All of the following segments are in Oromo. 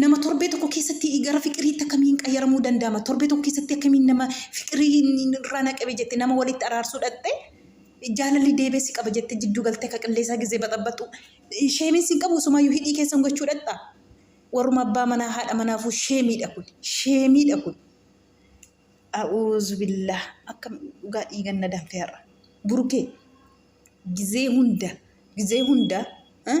Nama torbee tokko keessatti gara fiqiriitti akkamiin qayyaramuu danda'ama? Torbee tokko keessatti akkamiin nama fiqirii irraa na qabe jette nama walitti araarsuu dhaqxe jaalalli deebee si qaba jette jidduu galtee ka qilleesaa gizee baxabaxu sheemiin sin qabu sumaayyuu hidhii keessan gochuu dhaqxa. Warruma abbaa manaa haadha manaafuu sheemiidha kun sheemiidha kun. A'uuzu billah akkam dhugaa dhiigan na danfe har'a. Burukee gizee hunda gizee hunda eh?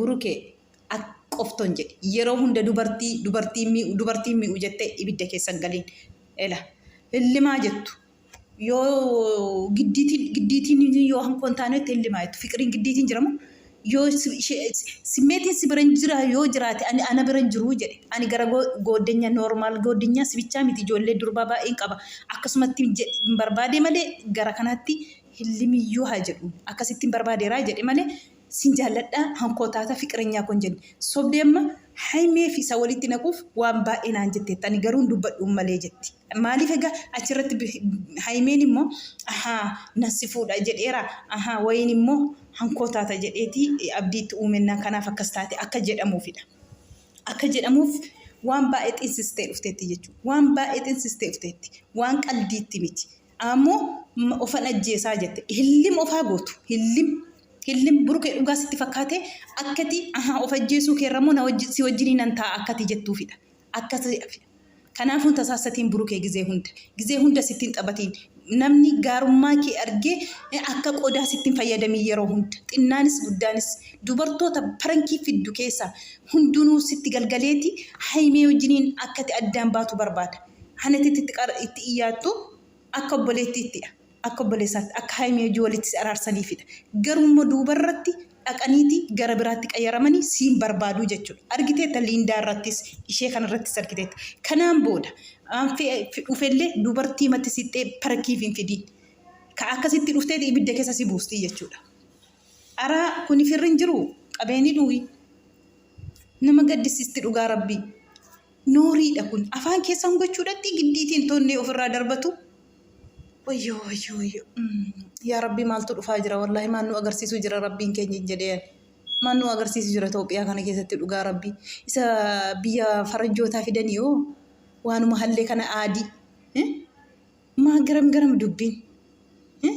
Buruke at qofton jedhi yeroo hunda dubartii dubartiin mii'u dubartiin mii'u jette ibidda keessa hin galin ela hillimaa jettu yoo giddiitiin giddiitiin yoo hankoo hin taane itti hillimaa jettu fiqiriin giddiitiin jiramu yoo simmeetiin si bira hin jira yoo jiraate ani ana bira hin jiru jedhe ani gara goodenya noormaal goodenya si bichaa miti ijoollee durbaa baay'een qaba akkasumatti hin barbaade malee gara kanaatti hillimiyyuu haa jedhu akkasitti hin barbaadeeraa jedhe malee Sin jaalladha hankoo taata fiqirenyaa koo hin jenne sobdee amma haymee fi isa walitti naquuf waan baay'ee naan jetteetta ani garuu hin dubbadhu hin malee jetti maaliif egaa achirratti haymeen immoo ahaa nan si fuudha jedheera ahaa wayiin immoo hankoo taata jedheeti abdii itti uumennaan kanaaf akkas taate akka jedhamuufidha akka jedhamuuf waan baay'ee xinsistee dhufteetti jechuudha waan baay'ee xinsistee dhufteetti waan qaldiitti miti Aammo ofan ajjeesaa jette hillim ofaa gootu hillim hillim burukee dhugaa sitti fakkaate akkati ahaa of ajjeesuu keerrammoo na wajji si wajjinii nan taa'a akkati jettuufidha akkasi kanaafuu hin tasaassatiin burukee gizee hunda gizee hunda sitti hin xabatiin namni gaarummaa kee argee akka qodaa sitti hin fayyadamiin yeroo hunda xinnaanis guddaanis dubartoota parankii fiddu keessaa hundunuu sitti galgaleeti haymee wajjiniin akkati addaan baatu barbaada. Hana itti itti qara itti iyyaattu akka obboleettiittidha. Akka obboleessaatti akka Haayimii wajjin walitti si araarsaniifidha. Garuu immoo duuba irratti dhaqaniiti gara biraatti qayyaramanii siin barbaaduu jechuudha. Argiteetta Liindaa irrattis ishee kana irrattis argiteetta. Kanaan booda aan fe'e fi dhufellee dubartii matti sixxee parakiif hin fidiin. Ka akkasitti dhufteeti ibidda keessa si buustii jechuudha. Araa kuni firri hin jiruu? Qabeenii dhuuhi. Nama gaddisiisti dhugaa rabbii. Nooriidha kun. Afaan keessan gochuudhatti giddiitiin toonnee ofirraa darbatu. Wayyoo wayyoo wayyoo. Mm. Yaa Rabbii maaltu dhufaa jira wallaahi maal nu agarsiisuu jira Rabbiin keenya hin jedheen. Maal nu agarsiisu jira Itoophiyaa kana keessatti dhugaa Rabbii. Isa biyya faranjootaa fidanii hoo waanuma hallee kana aadii. Eh? Maa garam garam dubbiin. Eh?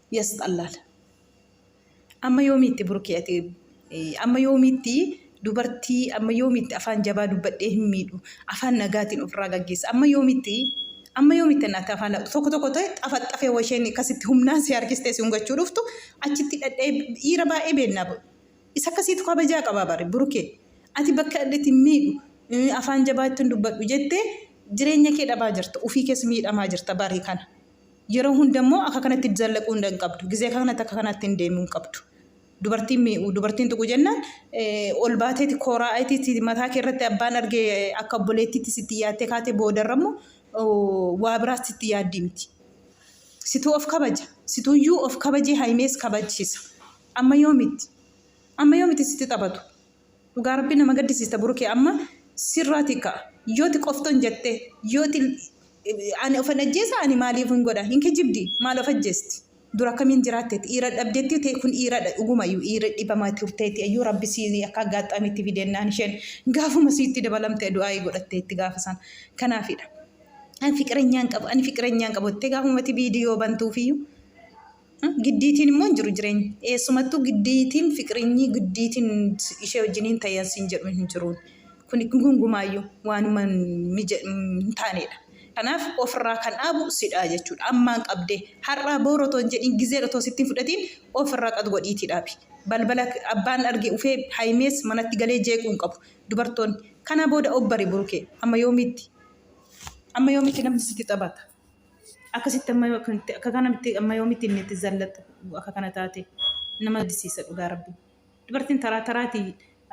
yasxallaal amma yoomiitti burkii ati amma yoomiitti dubartii amma yoomiitti afaan jabaa dubbadhee hin miidhu afaan nagaatiin ofirraa gaggeessa amma yoomiitti amma yoomiitti naatti afaan tokko tokko ta'e xafaxxafee washeen akkasitti humnaan si harkistee si hungachuu dhuftu achitti dhadhee dhiira baay'ee beennaa isa akkasiitu kabajaa qabaa bare burkee ati bakka dhadheetti hin miidhu afaan jabaa ittiin dubbadhu jettee jireenya kee dhabaa jirta ofii keessa miidhamaa jirta barii kana. Yeroo hunda immoo akka kanatti zallaquu hunda hin qabdu. Gizee akka kanatti akka kanaatti hin deemuu hin qabdu. Dubartiin mi'u dubartiin tuqu jennaan ol baateeti kooraa ayitiiti mataa kee irratti abbaan arge akka obboleettiitti sitti yaattee kaatee boodarra immoo waa biraatti sitti yaaddii miti. Situu of kabaja. Situuyyuu of kabajee haimees kabajsiisa. Amma yoo miti. Amma yoo miti sitti taphatu. Dhugaa rabbi nama gaddisiista burukee amma sirraati ka'a yooti qofton jette yooti ani ofan ajjeesa ani maaliif hin godha hin kijibdi maal of ajjeesti dura akkamiin jiraattetti iira dhabdetti ta'e kun iiradha dhugumayyuu iira dhibama turteetti ayyuu rabbi sii akka aggaatxaamitti fidennaan isheen gaafuma siitti dabalamte du'aayii godhatteetti gaafa san kanaafidha ani fiqirenyaan qabu ani fiqirenyaan qabu jettee gaafumati viidiyoo bantuufiyyuu Giddiitiin immoo hin jiru jireenyi. Eessumattuu giddiitiin fiqrinyi giddiitiin ishee wajjiniin ta'e siin jedhu hin jiruun. Kun gungumaayyuu waanuma hin taanedha. Kanaaf ofirraa kan dhaabu sidhaa jechuudha. Ammaan qabdee har'aa boora otoo hin jedhiin gizee otoo sittiin fudhatiin ofirraa qad godhiitii dhaabi. Balbala abbaan arge ufee haayimees manatti galee jeequu hin qabu. Dubartoonni kana booda obbari burukee amma yoomiitti amma yoomiitti namni sitti taphata. Akkasitti amma akkamitti akka kanamitti amma yoomitti inni itti zallaxu akka kana taate nama disiisa dhugaa rabbi. Dubartiin taraa taraati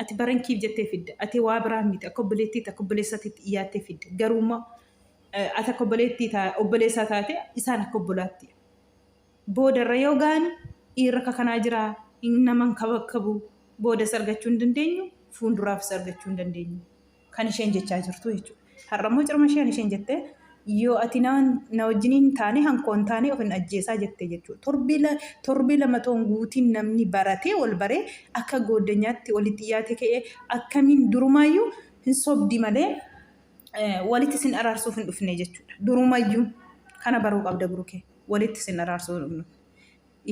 ati barankiif jettee fidda ati waa biraa miti akka obboleettiitti akka obboleessaatiitti dhiyaattee fidda garuu immoo ati akka obboleettii taa obboleessaa taate isaan akka obbolaatti booda irra yoo ga'an dhiirri akka kanaa jira hin naman kabakkabu boodas argachuu hin dandeenyu fuulduraafis argachuu hin dandeenyu. kan isheen jechaa jirtu jechuudha. Har'a immoo cirma isheen isheen jette yoo ati na na wajjin hin taane hankoo hin taane of hin ajjeesaa jette jechuudha. Torbee la- torbee lama toon guutiin namni baratee wal baree akka gooddanyaatti walitti dhiyaate ka'ee akkamiin durumaayyuu hin sobdi malee eh, walitti sin araarsuuf hin dhufne jechuudha. Durumayyuu kana baruu qabda burukee walitti sin araarsuuf hin dhufne.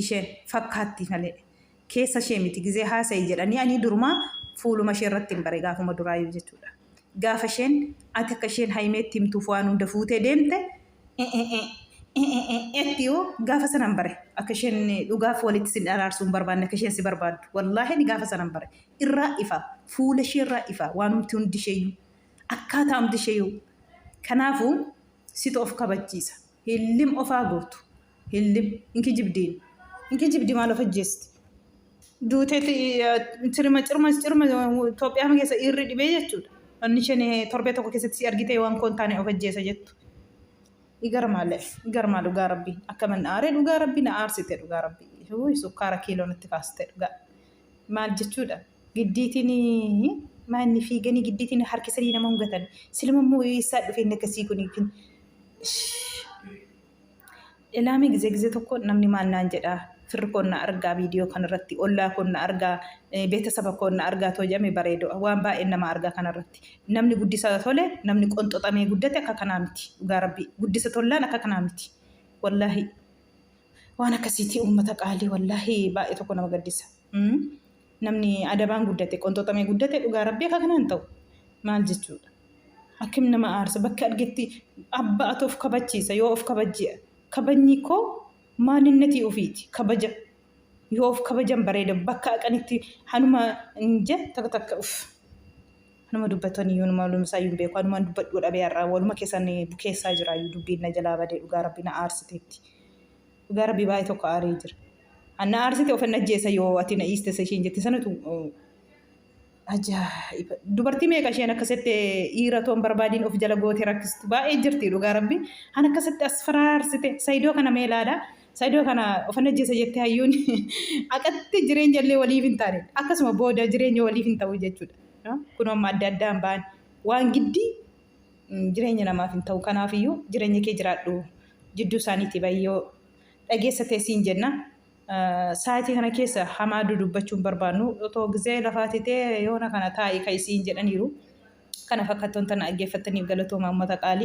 Isheen fakkaatti malee. keessa ishee miti gizee haasa'i jedhanii anii durumaa fuuluma ishee irrattin bare gaafuma duraayyuu jechuudha gaafa isheen ati akka isheen hayimeetti himtuuf waan hunda fuutee deemte etti oo gaafa sanan bare akka isheen dhugaaf walitti sin araarsuu hin barbaanne akka isheen si barbaaddu wallaahi ani gaafa sanan bare irraa ifa fuula ishee irraa ifa waan humti hundi isheeyyuu akkaataa humti isheeyyuu kanaafuu situ of kabachiisa hillim ofaa guutu Hillim hin kijibdi. Hin kijibdi maal of ajjeesti. Duuteeti cirma cirma cirma Itoophiyaa keessa dhiirri dhibee jechuudha. Wanni isheen torbee tokko keessatti si argitee waan koon taane of ajjeesa jettu. Igarmaale igarmaa dhugaa rabbii akka man aare dhugaa rabbii na aarsite dhugaa rabbii. Huu sukkaara kiiloo natti kaaste dhugaa. Maal jechuudha giddiitiin maanni fiiganii giddiitiin harkisanii nama hungatan silma immoo eessaa dhufeen akkasii kun Ilaamee gizee gizee tokko namni maal naan jedhaa firri koon na argaa viidiyoo kanarratti ollaa koon na argaa beetasaba koon na argaa too jedhame bareedo waan baay'een nama argaa kanarratti namni guddisa tole namni qonxoxamee guddate akka kanaa miti dhugaa rabbii guddisa tollaan akka kanaa miti wallaahi waan akkasiitii uummata qaalii wallaahi baay'ee tokko nama gaddisa. namni adabaan guddate qonxoxamee guddate dhugaa rabbii akka kanaan ta'u maal jechuudha akkim nama aarsa bakka argetti abba ati of kabachiisa yoo of kabajji kabajni koo maalinnatii ofiiti kabaja yoo of kabajan bareeda bakka aqanitti hanuma hin je takka takka uf hanuma dubbatanii yoonuma walumisaa hin beeku hanumaan dubbadhuu dhabee har'aa waluma keessan bukeessaa jiraayyuu dubbiin na jalaa badee dhugaa rabbii na aarsiteetti. Dhugaa rabbii baay'ee tokko aaree jira. Anna aarsite ofin ajjeessa yoo ati na dhiiste isa isheen jette sanatu ajaa'iba. Dubartii meeqa isheen akkasitti dhiira toon barbaadiin of jala goote rakkistu baay'ee jirti dhugaa rabbi. An akkasitti as faraarsite sayidoo kana mee ilaala. Sayidoo kana ofin ajjeessa jette hayyuun aqatti jireenya illee waliif hin taane akkasuma booda jireenya waliif hin ta'u jechuudha. Kun amma adda addaan ba'an waan giddii jireenya namaaf hin ta'u. Kanaaf iyyuu jireenya kee jiraadhu jidduu isaaniitii ba'i yoo dhageessa ta'e siin jenna. Sa'aatii kana keessa hamaa dudubbachuun barbaannu otoo gizee lafaa titee yoona kana taa'i ka'i siin jedhaniiru. Kana fakkattoon tana dhaggeeffattaniif galatoomaa uummata qaali.